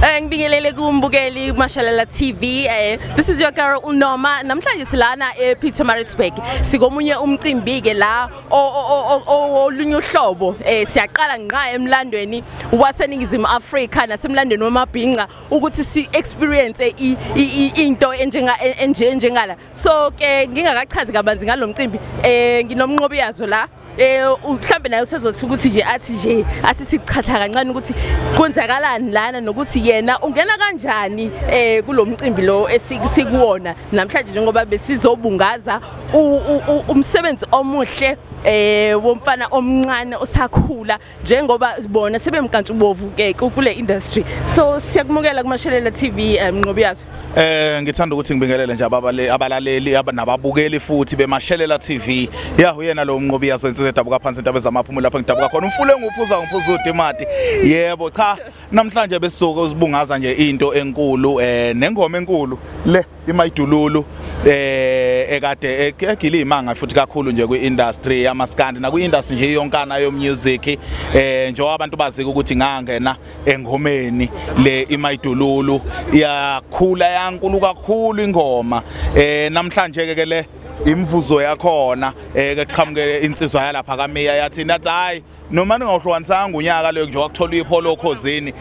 Eh ngibingelele kumbukeli Mashalala TV. Eh this is your girl Unoma. Namhlanje silana ePietermaritzburg. Sikomunye umcimbi ke la olunye uhlobo. Eh siyaqala ngqa emlandweni waseningizimu Africa nasemlandweni wamabhinqa ukuthi si experience into enjenga enje njengala. So ke ngingakachazi kabanzi ngalomcimbi eh nginomnqobi yazo la eh mhlambe naye usezothi ukuthi nje athi nje asisiqhatha kancane ukuthi kwenzakalani lana nokuthi yena ungena kanjani eh kulomcimbi lo esikuwona namhlanje njengoba besizobungaza umsebenzi omuhle eh womfana omncane osakhula njengoba bona sebemkantshubovu ke kule industry so siyakumukela kumashelela TV eh, mnqobi yazo eh ngithanda ukuthi ngibingelele nje ababale abalaleli abanababukeli futhi bemashelela TV ya uyena lo mnqobi yazo insizwe edabuka phansi intaba zamaphumulo lapho ngidabuka khona umfule nguphuza ngiphuza udimati yebo cha Namhlanje besuke uzibungaza nje into enkulu eh nengoma enkulu le imayidululu eh ekade egile imanga futhi kakhulu nje kwiindustry yamaskandi nakwiindustry nje yonkana yomusic eh njengoba abantu bazika ukuthi ngangena engomeni le imayidululu iyakhula yankulu kakhulu ingoma eh namhlanje ke le imvuzo yakhona eh ke qhamuke insizwa yalapha kaMeya yathi nathi hayi noma ningawuhlukanisanga ngonyaka leyo nje wakuthola ipholo okhozini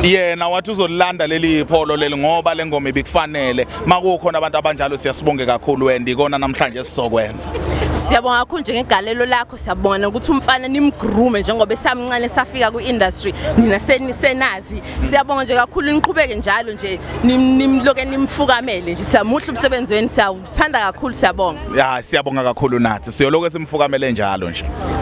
yena wathi uzolilanda leli ipholo leli ngoba le ngoma ibikufanele makukhona abantu abanjalo siyasibonge kakhulu and ikona namhlanje sizokwenza siyabonga kakhulu njengegalelo lakho siyabona ukuthi umfana nimgrume njengoba esamncane safika kwi-industry nina senisenazi siyabonga nje kakhulu niqhubeke njalo nje nimloke nimfukamele nje siyamuhle umsebenzi wenu siyawuthanda kakhulu siyabonga ya siyabonga kakhulu nathi siyoloke simfukamele njalo nje